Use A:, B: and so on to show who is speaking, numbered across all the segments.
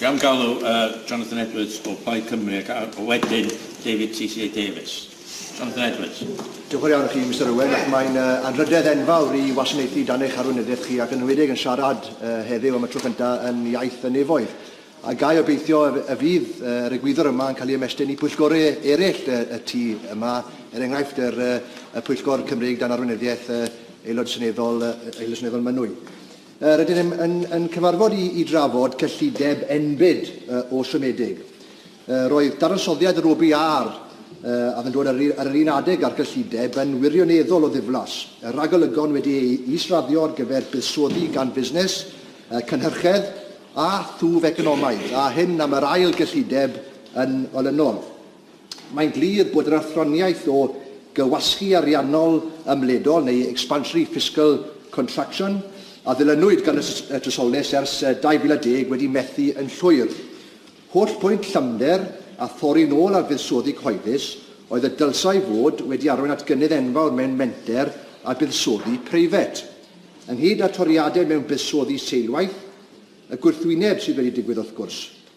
A: Gawn galw uh, Jonathan Edwards o Plaid Cymru ac a wedyn David TCA Davies. Jonathan Edwards. Diolch yn iawn chi,
B: Mr Owen, ac mae'n uh, anrhydedd enfawr i wasanaethu dan eich arweinyddiaeth chi ac yn enwedig yn siarad uh, heddiw am y tro cyntaf yn iaith y nefoedd. A gai obeithio y fydd uh, yr egwyddor yma yn cael ei ymestyn i pwyllgorau eraill y, y tu yma, er enghraifft yr, uh, y pwyllgor Cymreig dan arweinyddiaeth uh, aelod seneddol, uh, aelod seneddol Mynwy. Rydyn ni yn cyfarfod i drafod cyllideb enbyd o siomedig. Roedd dadansoddiad yr OBR a oedd yn dod ar yr un adeg â'r cyllideb yn wirioneddol o ddiflas, ragolygon wedi eu is-raddio ar gyfer buddsoddi gan fusnes, cynhyrchedd a thwf economaidd, a hyn am yr ail gyllideb yn olynol. Mae'n glir bod yr athroniaeth o gywasgu ariannol ymledol, neu expansionary fiscal contraction, a ddilynwyd gan y trysorlys ers 2010 wedi methu yn llwyr. Hollbwynt llymder a thorri'n ôl ar fuddsoddi cyhoeddus oedd y dylsai fod wedi arwain at gynnydd enfawr mewn menter a buddsoddi preifat. Ynghyd â toriadau mewn buddsoddi seilwaith, y gwrthwyneb sydd wedi digwydd wrth gwrs.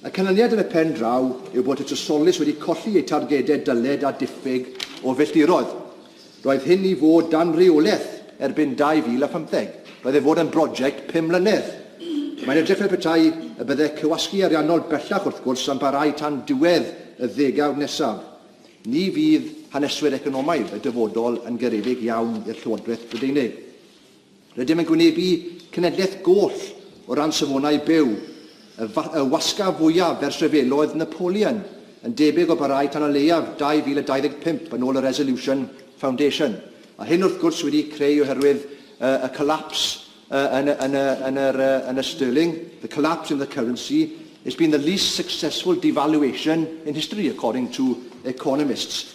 B: Y canlyniad yn y pen draw yw bod y Trysolys wedi colli eu targedau dyled a diffyg o filltiroedd. Roedd hyn i fod dan reolaeth erbyn 2015. Roedd ei fod yn broject pum mlynedd. Mae'n edrych fel petai y byddai cywasgu ariannol bellach wrth gwrs am barau tan diwedd y ddegawd nesaf. Ni fydd haneswyr economaidd y dyfodol yn garedig iawn i'r Llywodraeth Brydeinig. Rydym yn gwynebu cenedlaeth goll o ran safonau byw, y y wasgaf fwyaf ers rhyfeloedd Napoleon, yn debyg o barhau tan o leiaf 2025 yn ôl y Resolution Foundation, a hyn wrth gwrs wedi'i creu oherwydd y y collapse y yn y yn y yn yr y yn y sterling, the collapse in the currency, it's been the least successful devaluation in history according to economists.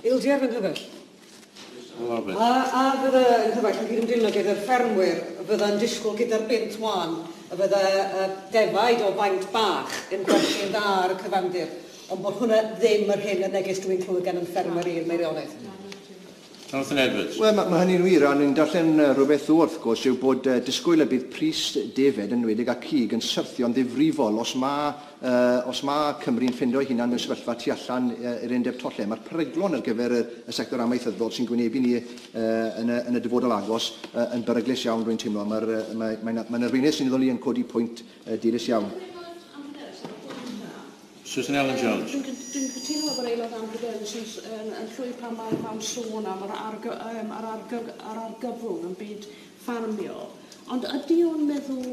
B: Ildio fy
C: nghyfaill.
A: A, a fydda
C: yng nghyfaill yn cydymdrino gyda'r ffermwyr y fydda yn disgwyl gyda'r bunt wan y fydda y defaid o faint bach yn gwerthu'n dda ar y cyfandir, ond bod hwnna ddim yr hyn y neges dw i'n clywed gan yn ffermwr i yn Meirionnydd. Jonathan
A: Edwards. Wel, mae hynny'n wir, a o'n
B: i'n darllen rhywbeth ddoe wrth gwrs yw bod disgwyl y bydd pris defaid yn enwedig a cig yn syrthio'n ddifrifol os mae Os mae Cymru'n ffindo ei hunan mewn sefyllfa tu allan i'r undeb twll lle mae'r peryglon ar gyfer y sector amaethyddol sy'n gwynebu ni yn y dyfodol agos yn beryglus iawn, rwy'n teimlo. Mae'n arweinydd seneddol i yn codi pwynt dilys iawn. Susan Ellen Jones.
A: Dwi'n cytuno efo'r Aelod Ambideus
D: sy'n llwyr pan mae'n sôn am yr argyfwng yn byd ffarmio, ond ydy o'n meddwl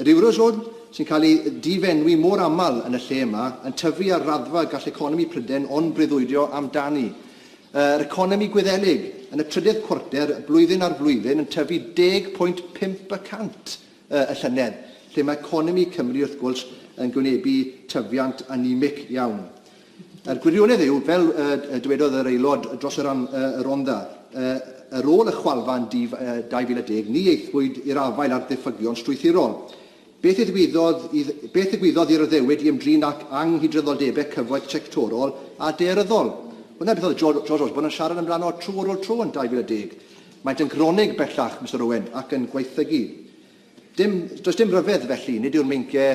B: Yr Eurozone, sy'n cael ei difenwi mor aml yn y lle yma, yn tyfu ar raddfa gall economi Prydain ond breuddwydio amdani. Yr economi Gwyddelig, yn y trydedd cwarter, blwyddyn ar flwyddyn, yn tyfu 10.5 y cant y llynedd, lle mae economi Cymru, wrth gwrs, yn gwynebu tyfiant anemic iawn. A'r gwirionedd yw, fel y dywedodd yr Aelod dros y rhan y Rhondda, ar ôl y chwalfa yn 2010, ni aethpwyd i'r afael â'r diffygion strwythurol. Beth ddigwyddodd i beth ddigwyddodd i'r addewid i ymdrin â anghydraddoldebau cyfoeth sectorol a daearyddol? Wel, 'na beth oedd George Osborne yn siarad amdano tro ar ôl tro yn 2010. Maent yn gronig bellach, Mister Owen, ac yn gwaethygu. Dim, does dim rhyfedd, felly, nid yw'r meincie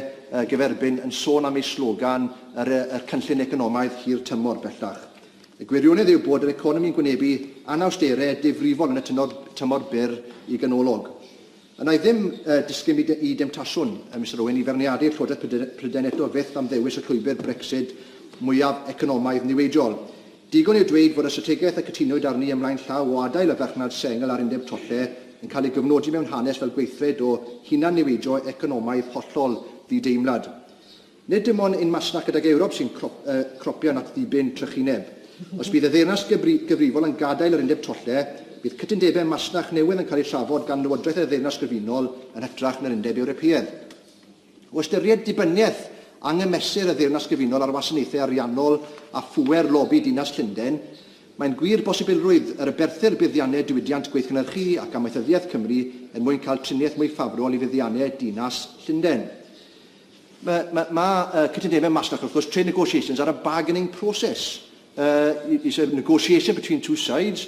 B: gyferbyn yn sôn am eu slogan, yr, yr cynllun economaidd hir tymor, bellach. Y gwirionedd yw bod yr economi'n gwynebu anawsterau difrifol yn y tynor, tymor byr i ganolog. A wna i ddim uh, disgyn i, de, i demtasiwn, uh, Mister Owen, i feirniadu'r Llywodraeth Prydain eto fyth am ddewis y llwybr Brexit mwyaf economaidd niweidiol. Digon yw dweud fod y strategaeth y cytunwyd arni ymlaen llaw o adael y farchnad sengl a'r undeb tolle yn cael ei gyfnodi mewn hanes fel gweithred o hunan-niweidio economaidd hollol ddi-deimlad. Nid dim ond ein masnach gydag Ewrop sy'n cropian at ddibyn trychineb. Os bydd y ddeyrnas gyfrifol yn gadael yr undeb tolle, bydd cytundebau masnach newydd yn cael eu trafod gan Lywodraeth y Ddeyrnas Gyfunol yn hytrach na'r Undeb Ewropeaidd. O ystyried dibyniaeth anghymesur y Ddeyrnas Gyfunol ar wasanaethau ariannol a phŵer lobi Dinas Llundain, mae'n gwir bosibilrwydd yr aberthir buddiannau diwydiant gweithgynhyrchu ac amaethyddiaeth Cymru er mwyn cael triniaeth mwy ffafrol i fuddiannau Dinas Llundain. Mae, mae, mae uh, cytundebau masnach, wrth gwrs, trade negotiations are a bargaining process. Uh, it's a negotiation between two sides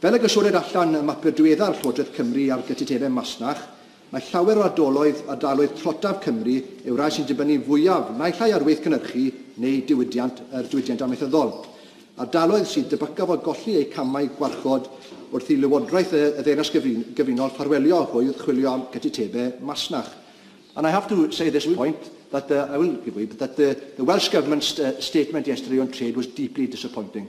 B: Fel y gosodir allan ym mapur diweddar Llywodraeth Cymru ar gytundebau masnach, mae llawer o ardaloedd a daaloedd trotaf Cymru yw'r rhai sy'n dibynnu fwyaf naill ai ar waith cynhyrchu neu diwydiant yr diwydiant amaethyddol, ardaloedd sydd debycaf o golli eu camau gwarchod wrth i Lywodraeth y Ddeyrnas Gyfunol ffarwelio hwyr chwilio am gytundebau masnach. And I have to say at this point that the, I will give way, that the, the Welsh Government's statement yesterday on trade was deeply disappointing.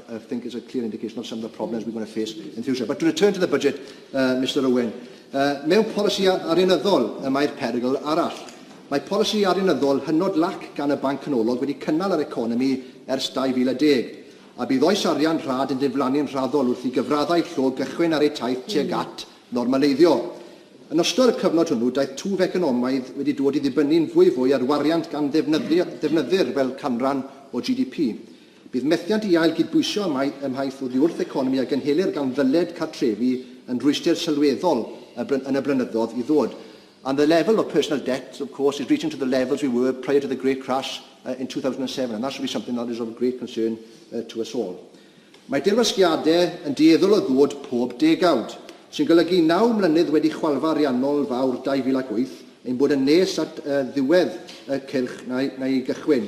B: I think it's a clear indication of some of the problems we're going to face in future. But to return to the budget, uh, Mr Owen, uh, mewn polisi arianyddol y mae'r perygl arall. Mae polisi arianyddol hynod lac gan y Banc Canolog wedi cynnal yr economi ers 2010, a bydd oes arian rhad yn diflannu'n rhaddol wrth i gyfraddau llo gychwyn ar eu taith tuag at normaleiddio. Yn ystod y cyfnod hwnnw, daeth twf economaidd wedi dod i ddibynnu'n fwyfwy ar wariant gan ddefnyddir fel canran o GDP. Bydd methiant i ail gydbwysio ym mhaith oddiwrth economi a gynhelir gan ddyled cartrefi yn rhwystr sylweddol yn y blynyddoedd i ddod. And the level of personal debt of course is reaching to the levels we were prior to the great crash in 2007 and that should be something that is of great concern to us all. Mae dirwasgiadau yn dueddol o ddod pob degawd, sy'n golygu i naw mlynedd wedi chwalfa ariannol fawr 2008 ein bod yn nes at ddiwedd y cylch na'i gychwyn.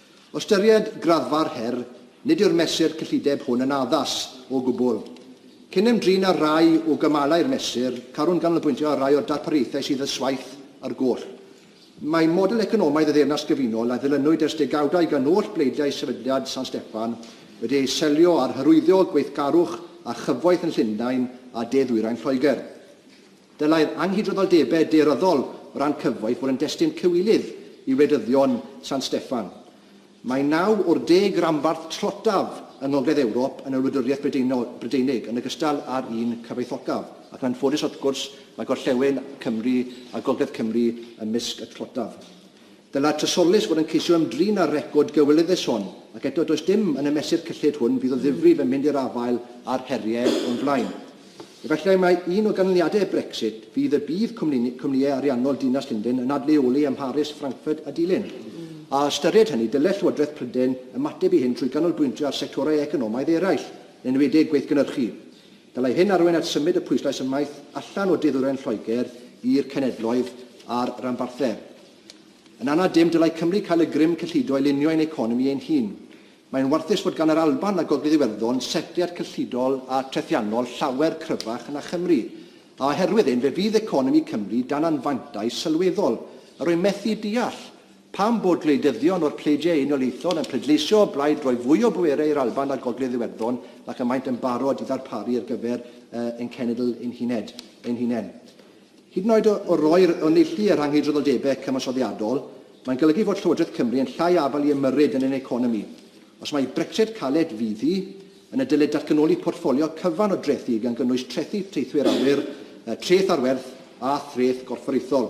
B: O ystyried graddfa'r her, nid yw'r mesur cyllideb hwn yn addas o gwbl. Cyn ymdrin â rhai o gymalau'r mesur, carwn ganolbwyntio ar rai o'r darpariaethau sydd â swaith ar goll. Mae model economaidd y Ddeyrnas Gyfunol a ddilynwyd ers degawdau gan oll bleidiau Sefydliad San Steffan wedi ei selio ar hyrwyddo gweithgarwch a chyfoeth yn Llundain a de-ddwyrain Lloegr. Dylai'r anghydraddoldebau daearyddol o ran cyfoeth fod yn destun cywilydd i wleidyddion San Steffan. Mae naw o'r deg ranbarth trotaf yng Ngogledd Ewrop yn y Wladwriaeth Brydeinig, yn ogystal â'r un cyfoethocaf, ac yn anffodus wrth gwrs mae gorllewin Cymru a Gogledd Cymru ymysg y trotaf. Dylai'r Trysorlys fod yn ceisio ymdrin â'r record gywilyddus hwn, ac eto does dim yn y mesur cyllid hwn fydd o ddifrif yn mynd i'r afael â'r heriau o'n blaen. Efallai mai un o ganlyniadau Brexit fydd y bydd cwmnïau ariannol Dinas Llundain yn adleoli ym Mharis, Frankfurt a Dulyn. A ystyried hynny, dylai Llywodraeth Prydain ymateb i hyn trwy ganolbwyntio ar sectorau economaidd eraill, yn enwedig gweithgynhyrchu. Dylai hyn arwain at symud y pwyslais ymaith allan o du-ddwyrain Lloegr i'r cenedloedd a'r ranbarthau. Yn anad dim, dylai Cymru cael y grym cyllido i lunio ein economi ein hun. Mae'n warthus fod gan yr Alban a Gogledd Iwerddon setliad cyllidol a trethiannol llawer cryfach na Chymru, a oherwydd hyn fe fydd economi Cymru dan anfantais sylweddol. Yr wy'n methu deall Pam bod gwleidyddion o'r Pleidiau Unoliaethol yn pleidleisio o blaid rhoi fwy o bwerau i'r Alban a'r Gogledd Iwerddon nac y maent yn barod i ddarparu ar gyfer ein cenedl ein huned, ein hunain? Hyd yn oed o, o roi'r, o neilltu y rhanghydraddoldebau cyfansoddiadol, mae'n golygu fod Llywodraeth Cymru yn llai afal i ymyrryd yn ein economi. Os mai Brexit caled fydd hi, yna dylid datganoli portffolio cyfan o drethi gan gynnwys trethi teithwyr awyr, treth ar werth a threth gorfforaethol.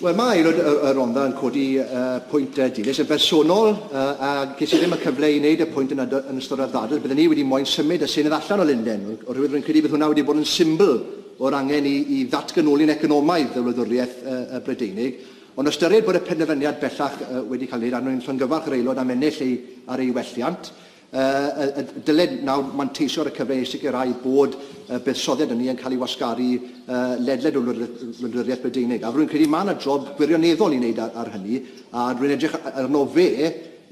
E: Wel, mae
B: Aelod y Rhondda yn codi pwynt dilys yn bersonol, a ges i ddim y cyfle i wneud y pwynt yna yn ystod y ddadl. Bydden ni wedi moyn symud y Senedd allan o Lundain, oherwydd rwy'n credu bydd hwnna wedi bod yn symbl o'r angen i i ddatganoli'n economaidd y wladwriaeth Brydeinig. Ond ystyried bod y penderfyniad bellach wedi cael ei wneud a rwy'n llongyfarch yr Aelod am ennill ei ar ei welliant, Yy, y dyled nawr manteisio ar y cyfle i sicrhau bod y buddsoddiad hynny yn cael ei wasgaru yy, ledled y wladwriaeth Brydeinig. A rwy'n credu mae yna job gwirioneddol i wneud ar, ar hynny, a rwy'n edrych arno fe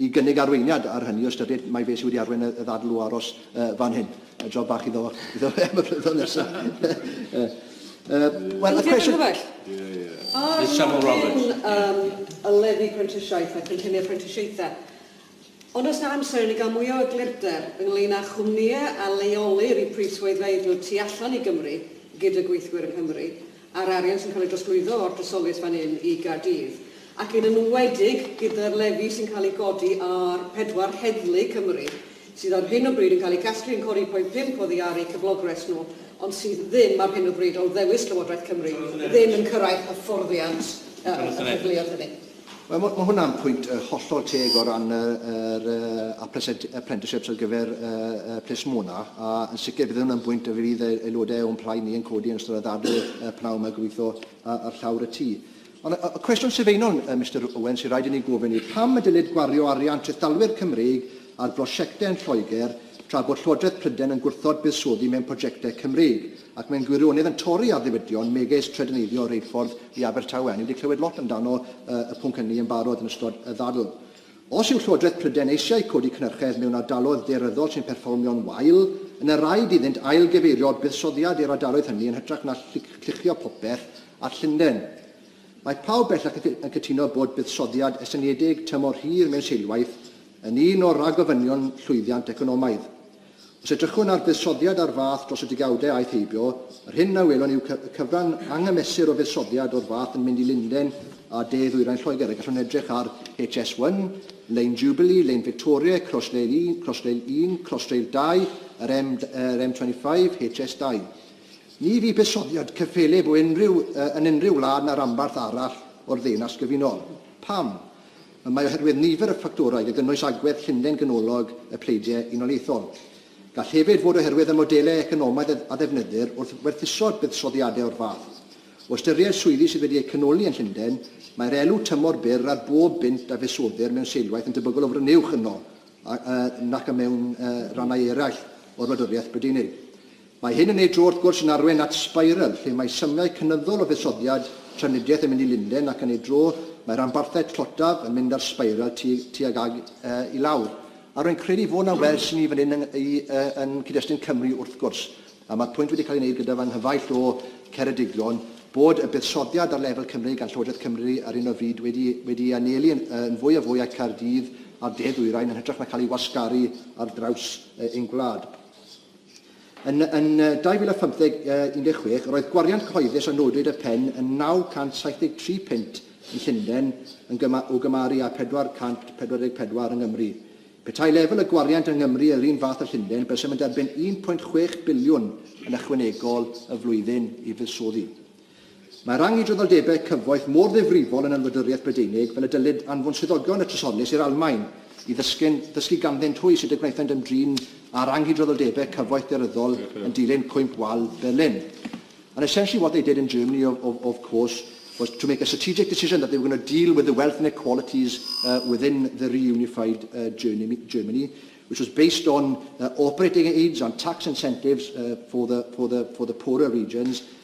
B: i gynnig arweiniad ar hynny o ystyried mai fe sydd wedi arwain y, y ddadl o aros uh, fan hyn. Y job bach iddo, iddo fe am y blynyddoedd nesaf. uh, well, y cwestiwn... Yeah, yeah. Miss Samuel Roberts. Um, y lefi prentisiaeth a
C: cynlluniau prentisiaethau. Ond oes 'na amser i ni gael mwy o eglurder ynglŷn â chwmnïau a leolir eu prif-swyddfeydd nhw tu allan i Gymru gyda gweithwyr yng Nghymru, a'r arian sy'n cael ei drosglwyddo o'r drysoliaeth fan hyn i Gaerdydd, ac yn enwedig gyda'r lefi sy'n cael ei godi ar pedwar heddlu Cymru, sydd ar hyn o bryd yn cael eu casglu yn codi 1.5 oddi ar eu cyflogres nhw, ond sydd ddim ar hyn o bryd, o ddewis Llywodraeth Cymru, ddim yn cyrraedd hyfforddiant y rhagflaeoedd hynny. Wel, mae hwnna'n
B: pwynt hollol teg o ran yr apprenticeships ar gyfer plismona, a yn sicr bydd hwnna'n bwynt y fydd aelodau o'n plaid ni yn codi yn ystod y ddadl pnawn yma gobeithio ar llawr y tŷ. Ond y cwestiwn sylfaenol, Mister Owen, sy'n rhaid i ni gofyn yw pam y dylid gwario arian trethdalwyr Cymreig ar brosiectau yn Lloegr tra bod Llywodraeth Prydain yn gwrthod buddsoddi mewn prosiectau Cymreig? Ac mae'n gwirionedd yn torri ar ddiwydion megis trydaneiddio reilffordd i Abertawe. Ni wedi clywed lot amdano y pwnc hynny yn barod yn ystod y ddadl. Os yw Llywodraeth Prydain eisiau codi cynhyrchedd mewn ardaloedd daearyddol sy'n perfformio'n wael, yna raid iddynt ail-gyfeirio buddsoddiad i'r ardaloedd hynny yn hytrach na lluchio popeth at Llundain. Mae pawb bellach yn cytuno bod buddsoddiad estyniedig tymor hir mewn seilwaith yn un o ragofynion llwyddiant economaidd. Os edrychwn ar fuddsoddiad ar fath dros y degawdau aeth heibio, yr hyn a welwn yw y cyfran anghymesur o fuddsoddiad o'r fath yn mynd i Lundain a de ddwyrain Lloegr, a gallwn edrych ar HS1, Lein Jubilee, Lein Victoria, Crossrail 1, Crossrail 1, Crossrail 2, yr M, yr M25, HS2. Ni fu buddsoddiad cyffelyb o unrhyw, yn unrhyw wlad na ranbarth arall o'r Ddeyrnas Gyfunol. Pam? Y mae oherwydd nifer y ffactorau, gan gynnwys agwedd llunlen ganolog y pleidiau unoliaethol. Gall hefyd fod oherwydd y modelau economaidd a ddefnyddir wrth werthuso buddsoddiadau o'r fath. O ystyried swyddi sydd wedi eu canoli yn Llundain, mae'r elw tymor byr ar bob bunt a fuddsoddir mewn seilwaith yn debygol o frynu uwch yno nac mewn rhannau eraill o'r Wladwriaeth Brydeinig. Mae hyn yn ei dro wrth gwrs yn arwain at sbeiral lle mae symiau cynyddol o fusoddiad trafnidiaeth yn mynd i Lundain ac yn ei dro mae rhanbarthau tlotaf yn mynd ar sbeiral tuag tuag ag yy i lawr. A rwy'n credu fod 'na wers i ni fan hyn yn yy yn cyd-destun Cymru wrth gwrs, a mae'r pwynt wedi cael ei wneud gyda fy nghyfaill o Ceredigion, bod y buddsoddiad ar lefel Cymru gan Llywodraeth Cymru ar hyn o fyd wedi wedi ei anelu yn yn fwy a fwy â Caerdydd a'r de-ddwyrain yn hytrach na cael ei wasgaru ar draws ein gwlad. Yn, yn 2015, 16, roedd gwariant cyhoeddus a nodwyd y pen yn 973 punt yn Llundain yn gyma, o gymaru â 444 yng Nghymru. Petai lefel y gwariant yng Nghymru yr un fath â Llundain, bysem yn derbyn 1.6 biliwn yn ychwanegol y flwyddyn i fuddsoddi. Mae rhang i dryddoldebau cyfoeth mor ddifrifol yn y Wladwriaeth Brydeinig fel y dylid anfon swyddogion y Trysorlys i'r Almaen i ddysgu'n ddysgu ganddynt hwy sut y gwnaethant ymdrin â rhang i dryddoldebau cyfoeth daearyddol yn dilyn Cwymp Wal Berlin. And essentially what they did in Germany of, of, of course was to make a strategic decision that they were going to deal with the wealth inequalities uh, within the reunified uh, Germany, Germany which was based on uh, operating aids and tax incentives uh, for, the, for, the, for the poorer regions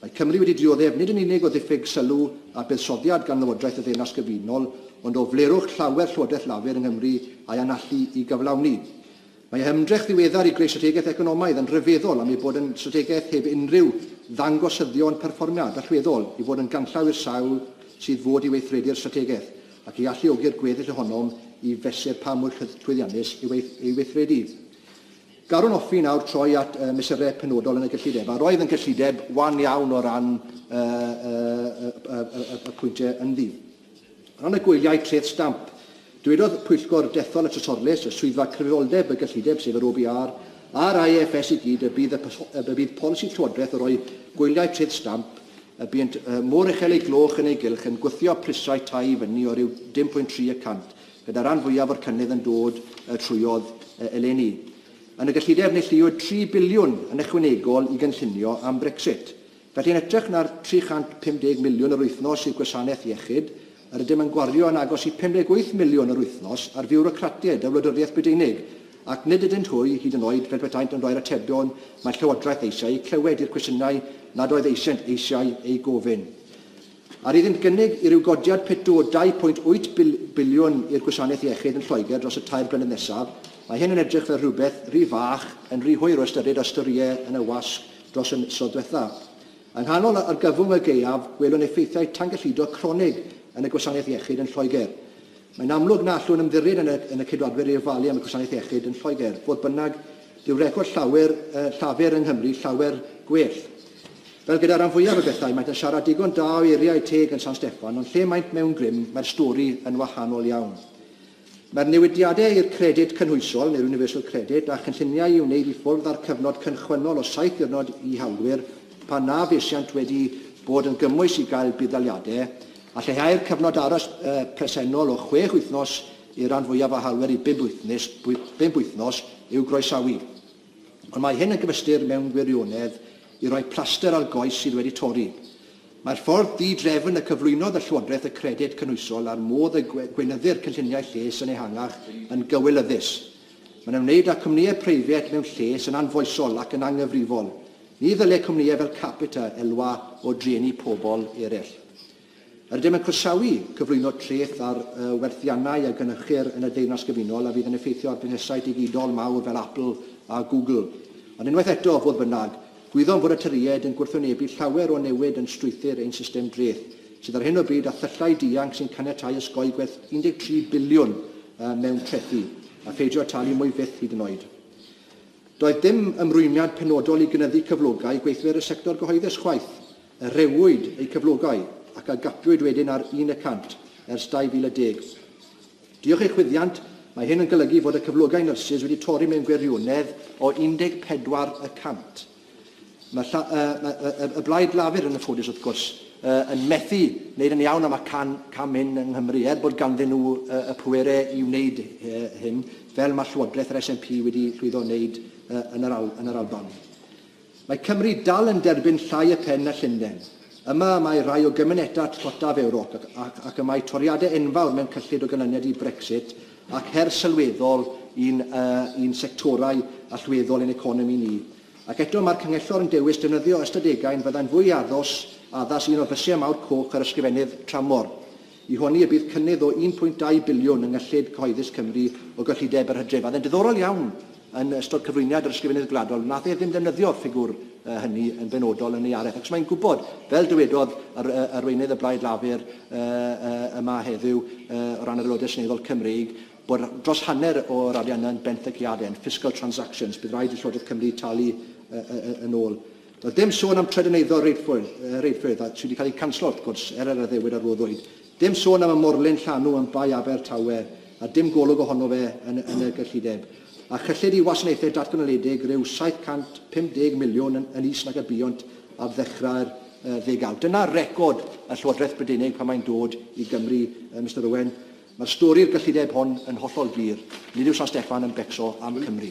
B: Mae Cymru wedi dioddef nid yn unig o ddiffyg sylw a buddsoddiad gan Lywodraeth y Ddeyrnas Gyfunol, ond o flerwch llawer Llywodraeth Lafur yng Nghymru a'i anallu i gyflawni. Mae ei hymdrech ddiweddar i greu strategaeth economaidd yn rhyfeddol am ei bod yn strategaeth heb unrhyw ddangosyddion perfformiad allweddol i fod yn ganllaw i'r sawl sydd fod i weithredu'r strategaeth ac i alluogi'r gweddill ohonom i fesur pa mor llwyddiannus yw ei weithredu. Gallwn hoffi nawr troi at y mesurau penodol yn y gyllideb, a roedd yn gyllideb wan iawn o ran y, y, y, y, y pwyntiau ynddi. O ran y gwyliau treth stamp, dywedodd Pwyllgor Dethol y Trysorlys, y Swyddfa Cyfrifoldeb y Gyllideb, sef yr OBR, a'r IFS i gyd y bydd, y, y bydd polisi Llywodraeth o roi gwyliau treth stamp y buont mor uchel ei gloch yn ei gylch yn gwthio prisau tai i fyny o ryw 10.3 y cant gyda'r rhan fwyaf o'r cynnydd yn dod trwodd eleni. Yn y gyllideb, neilltuwyd tri biliwn yn ychwanegol i gynllunio am Brexit. Felly, yn hytrach na'r 350 miliwn yr wythnos i'r gwasanaeth iechyd, yr ydym yn gwario yn agos i 58 miliwn yr wythnos ar fiwrocratiaid y Wladwriaeth Brydeinig, ac nid ydynt hwy, hyd yn oed, fel petaent yn rhoi'r atebion mae'r Llywodraeth eisiau eu clywed i'r cwestiynau nad oedd eisoent eisiau eu gofyn. Ar iddynt gynnig i ryw godiad pitw o 2.8 biliwn i'r gwasanaeth iechyd yn Lloegr dros y tair blynedd nesaf, mae hyn yn edrych fel rhywbeth rhy fach yn rhy hwyr o ystyried a storïau yn y wasg dros y misoedd diwetha'. Yng nghanol yr argyfwng y gaeaf, gwelwn effeithiau tangyllido cronig yn y gwasanaeth iechyd yn Lloegr. Mae'n amlwg na allwn ymddiried yn y Ceidwadwyr i ofalu am y gwasanaeth iechyd yn Lloegr, fodd bynnag, Dyw record llawer, yy, Llafur yng Nghymru llawer gwell. Fel gyda ran fwyaf o bethau, maent yn siarad digon da o eiriau teg yn San Steffan, ond lle maent mewn grym, mae'r stori yn wahanol iawn. Mae'r newidiadau i'r Credyd Cynhwysol, neu'r Universal Credit, a chynlluniau i wneud i ffwrdd â'r cyfnod cynchwynnol o saith diwrnod i hawlwyr pan na fesiant wedi bod yn gymwys i gael budd-daliadau, a lleihau'r cyfnod aros, yy, presennol o chwech wythnos y rhan fwyaf o hawlwyr i bump wythnos i'w groesawu, ond mae hyn yn gyfystyr mewn gwirionedd i roi plaster ar goes sydd wedi torri. Mae'r ffordd di-drefn y cyflwynodd y Llywodraeth y Credyd Cynhwysol a'r modd y gweinyddir cynlluniau lles yn ehangach yn gywilyddus. Mae'n ymwneud â chwmnïau preifat mewn lles yn anfoesol ac yn anghyfrifol. Ni ddyle cwmnïau fel Capita elwa o drueni pobl eraill. Rydym yn croesawu cyflwyno treth ar werthiannau a gynhyrchir yn y Deyrnas Gyfunol a fydd yn effeithio ar fusnesau digidol mawr fel Apple a Google. Ond unwaith eto, fodd bynnag, gwyddom fod y Tyriaid yn gwrthwynebu llawer o newid yn strwythur ein system dreth, sydd ar hyn o bryd â thyllau dianc sy'n caniatáu osgoi gwerth 13 biliwn mewn trethi, a pheidio â talu mwy fyth hyd yn oed. Doedd dim ymrwymiad penodol i gynyddu cyflogau gweithwyr y sector gyhoeddus chwaith. a rhewwyd eu cyflogau ac a gadwyd wedyn ar un y cant ers 2010. Diolch i chwyddiant, mae hyn yn golygu fod y cyflogau nyrsys wedi torri mewn gwirionedd o 14 y cant. Mae lla, y, y, y, y Blaid Lafur, yn anffodus wrth gwrs, y, yn methu wneud yn iawn am y can, cam hyn yng Nghymru, er bod ganddyn nhw y, y pwerau i wneud y, hyn, fel mae Llywodraeth yr SNP wedi llwyddo wneud y, yn, yr Al, yn yr Alban. Mae Cymru dal yn derbyn llai y pen na Llundain. Yma y mae rhai o gymunedau tlotaf Ewrop ac ac y mae toriadau enfawr mewn cyllid o ganlyniad i Brexit ac her sylweddol i'n yy i'n sectorau allweddol i'n economi ni. Ac eto mae'r Canghellor yn dewis defnyddio ystadegau'n fyddai'n fwy addws addas un o fysiau mawr coch yr Ysgrifennydd Tramor. I honni y bydd cynnydd o 1.2 biliwn yng Nghyllid Cyhoeddus Cymru o gyllideb yr hydref. A oedd e'n diddorol iawn yn ystod cyflwyniad yr Ysgrifennydd Gwladol, wnaeth e ddim ddefnyddio'r ffigwr hynny yn benodol yn ei araith, achos mae'n gwybod, fel dywedodd yr, Arweinydd y Blaid Lafur yma heddiw o ran yr Aelodau Seneddol Cymreig, bod dros hanner o'r arian yna yn benthyciadau, yn fiscal transactions, bydd rhaid i Llywodraeth Cymru talu yn ôl. Doedd dim sôn am Trydyn Eiddo reidrwydd, reidrwydd, a sydd wedi cael ei canslo wrth gwrs, er yr addewid a roddwyd. Dim sôn am y morlyn llanw yn Bae Aber Tawe, a dim golwg ohono fe yn, yn y gyllideb. A chyllid i wasanaethau datganoledig rhyw 750 miliwn yn, yn is nag y buont ar ddechrau'r uh, ddegawd. Dyna record y Llywodraeth Brydeinig pan mae'n dod i Gymru, uh, Mr Owen. Mae'r stori'r gyllideb hon yn hollol glir. Nid yw San Steffan yn becso am Cymru.